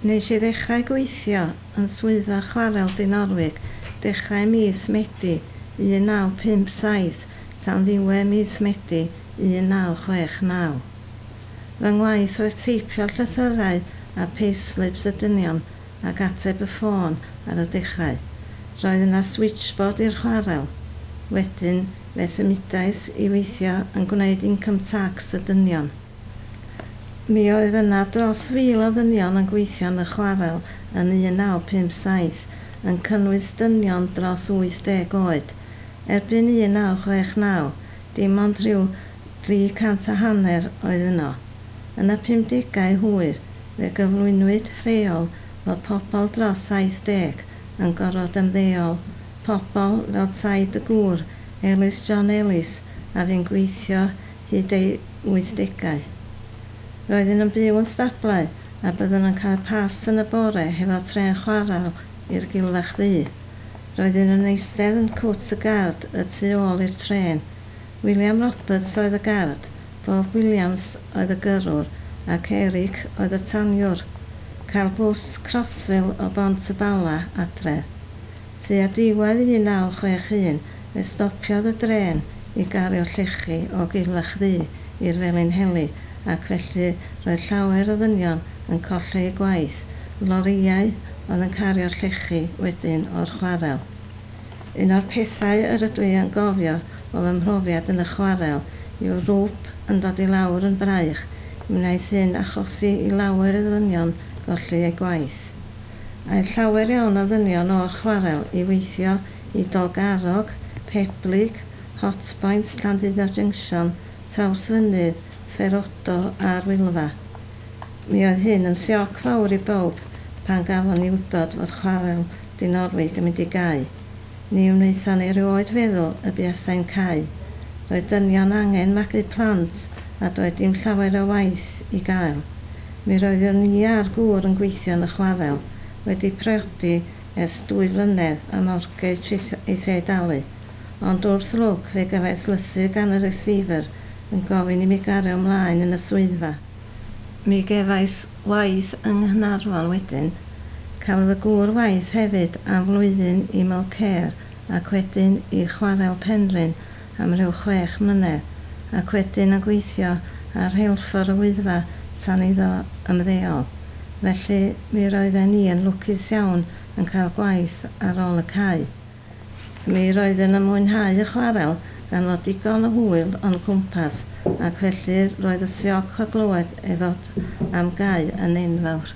Nes i ddechrau gweithio yn Swyddfa Chwarel Dinorwig dechrau mis Medi 1957 tan ddiwedd mis Medi 1969. Fy ngwaith oedd teipio llythyrau a payslips y dynion ac ateb y ffôn ar y dechrau. Roedd yna switchboard i'r chwarel. Wedyn fe symudais i weithio yn gwneud income tax y dynion. Mi oedd yna dros fil o ddynion yn gweithio yn y chwarel yn 1957, yn cynnwys dynion dros 80 oed. Erbyn 1969, dim ond rhyw dri cant a hanner oedd yno. Yn y pumdegau hwyr, Fe gyflwynwyd rheol fod pobl dros 70 yn gorfod ymddeol, pobl fel tai dy gŵr, Elis John Elis, a fu'n gweithio hyd ei wythdegau. Roeddwn yn byw yn stablau a byddwn yn cael pas yn y bore hefo trên chwarel i'r Gilfach Ddu. Roeddwn yn eistedd yn cwt y gard y tu ôl i'r trên. William Roberts oedd y gard, Bob Williams oedd y gyrrwr ac Eric oedd y taniwr. Cael bws Crossrail o Bont y Bala adref. Tua diwedd 1961 fe stopiodd y drên i gario llechi o Gilfach Ddu i'r Felinheli ac felly roedd llawer o ddynion yn colli eu gwaith, lorïau oedd yn cario'r llechi wedyn o'r chwarel. Un o'r pethau yr ydw i yn gofio o fy mhrofiad yn y chwarel yw'r rwp yn dod i lawr yn fraich, mi wnaeth hyn achosi i lawer o ddynion golli eu gwaith. Aeth llawer iawn o ddynion o'r chwarel i weithio i Dolgarrog, Peblig, Hotpoint, Llandudno Junction, Trawsfynydd, Ferodo a'r Wylfa. Mi oedd hyn yn sioc fawr i bawb pan gafon ni wybod fod chwarel Dinorwig yn mynd i gau. Ni wnaethon ni erioed feddwl y buasai'n cau. Roedd dynion angen magu plant a doedd dim llawer o waith i gael. Mi roeddwn ni a'r gŵr yn gweithio yn y chwarel, wedi priodi ers dwy flynedd a mortgage eisiau ei dalu. Ond wrth lwc fe gafais lythyr gan y receiver yn gofyn i mi gario ymlaen yn y swyddfa. Mi gefais waith yng Nghaernarfon wedyn. Cafodd y gŵr waith hefyd am flwyddyn i Mulcair ac wedyn i Chwarel Penrhyn am rhyw chwech mlynedd, ac wedyn yn gweithio ar rheilffordd y Wyddfa tan iddo ymddeol. Felly, mi roedden ni yn lwcus iawn yn cael gwaith ar ôl y cau. Mi roeddwn yn mwynhau y chwarel gan fod digon o hwyl o'n cwmpas ac felly roedd y sioc o glywed ei fod am gau yn enfawr.